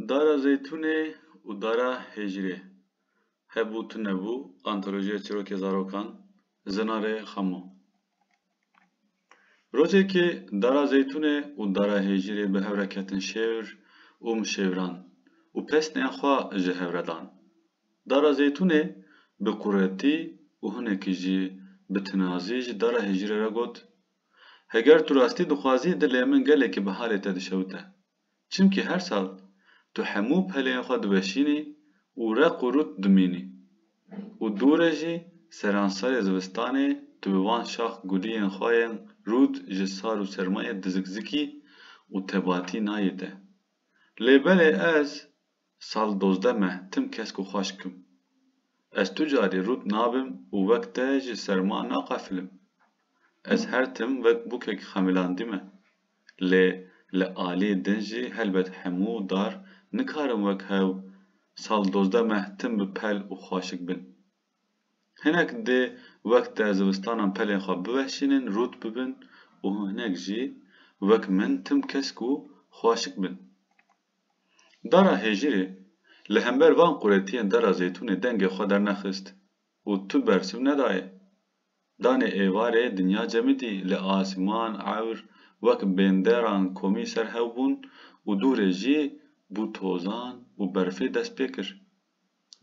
Dara Zeytûnê û Dara Hêjirê, Hebû tu nebû, Antolojiya Çirokê Zarokan, Zinarê Xamo. Rojekê Dara Zeytûnê û Dara Hêjirê bi hev re ketin şêwr û mişêwran û pesnên xwe ji hev re dan. Dara Zeytûnê bi quretî û hinekî jî bi tinazî ji Dara Hêjirê re got, Heger tu rastî dixwazî dilê min gelekî bi halê te dişewite. Çimkî her sal tu hemû pelên xwe diweşînî û req û rût dimînî. Û dû re jî seranserê zivistanê tu bi van şax guliyên xwe yên rût ji sar û sermayê dizikzikî û tebatî nayê te. Lê belê ez Sal dozdeh meh tim kesk û xweşk im. Ez tu carî rût nabim û wek te ji serma naqefilim. Ez her tim wek bûkek xemilandî me. Lê li alî din jî helbet hemû dar nikarin wek hew sal dozdeh meh tim bi pel û xweşik bin. Hinek dê wek te zivistanan pelên xwe biweşînin, rût bibin û hinek jî wek min tim kesk û xweşik bin. Dara hejîrê, li hember van quretiyên Dera Zeytûnê dengê xwe dernexist û tu bersiv nedaye. Danê êvarê dinya cemidî li asman, ewr, wek bênderan komî ser hew bûn û dûrê jî bû tozan û berfê dest pê kir.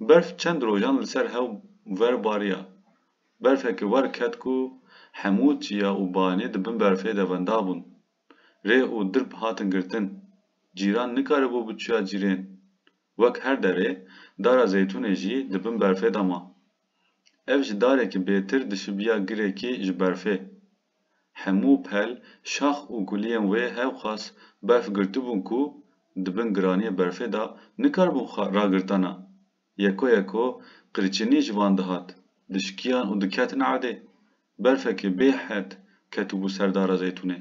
Berf çend rojan li ser hew ver bariya. Berfeke wer ket ku hemû çiya û banî di bin berfê de wenda bûn. rê û dirb hatin girtin. Cîran nikaribû biçûya cîrên. Wek her derê, dara Zeytûnê jî di bin berfê de ma. Ev ji darekî bêtir dişibiya girekî ji berfê. Hemû pel, şax û kuliyên wê hewqas berf girtibûn ku di bin giraniyê berfê de nikaribûn xwe ragirtana. Yeko yeko qirçenî ji van dihat, dişikiyan û diketin erdê. Berfekê bê hed ketibû ser dara zeytûnê.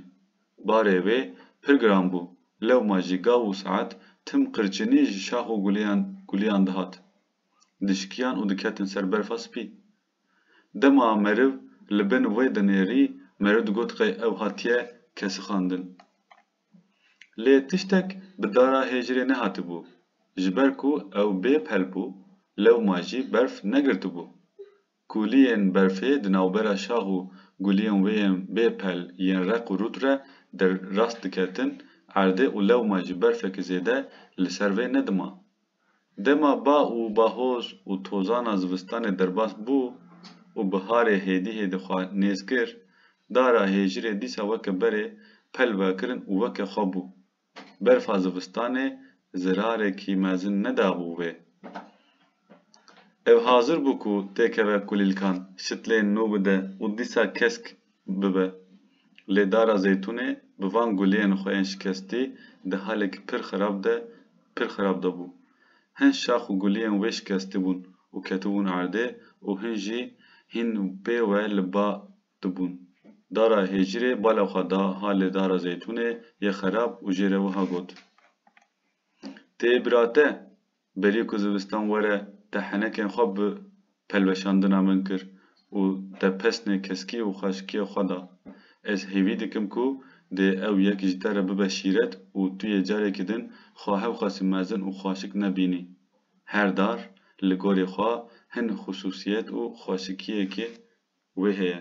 Barê wê pir giran bû, lewma jî gav û saet tim qirçenî ji şax û guleyan guleyan dihat. Dişikiyan û diketin ser berfa spî. Dema meriv li bin wê dinêrî, meriv digot qey ew hatiye kesixandin. Lê tiştek bi dara hêjirê nehatibû, ji ber ku ew bê pel bû, lewma jî berf negirtibû. Kûliyên berfê di navbera şax û guliyên wê yên bê pel yên req û rût re der rast diketin erdê û lewma jî berfeke zêde li ser vê nedima. Dema ba û bahoz û tozana zivistanê derbas bû û biharê hêdî hêdî xwe nêz kir, dara hêjirê dîsa weke berê pel vekirin û weke xwe bû. Berfa zivistanê zirarekî mezin nedabû wê. Ev hazir bû ku têkeve kulîlkan, şitlên nû bide û dîsa kesk bibe. Lê Dara Zeytûnê bi van guliyên xwe yên şikestî di halekî pir xirab de pir xirab de bû. Hin şax û guliyên wê şikestî bûn û ketibûn erdê û hin jî hîn pê we li ba dibûn. Dara Hêjirê bala xwe da halê Dara Zeytûnê yê xirab û jê re wiha got, Tê bira te? Belê ku zivistan were te henekên xwe bi pelweşandina min kir û te pesnê keskî û xaşikiyê xwe da. Ez hêvî dikim ku dê ew yek ji te re bibe şîret û tu yê carekî din xwe hewqasî mezin û xaşik nebînî. Her dar li gorî xwe hin xusûsiyet û xaşikiyekê wê heye.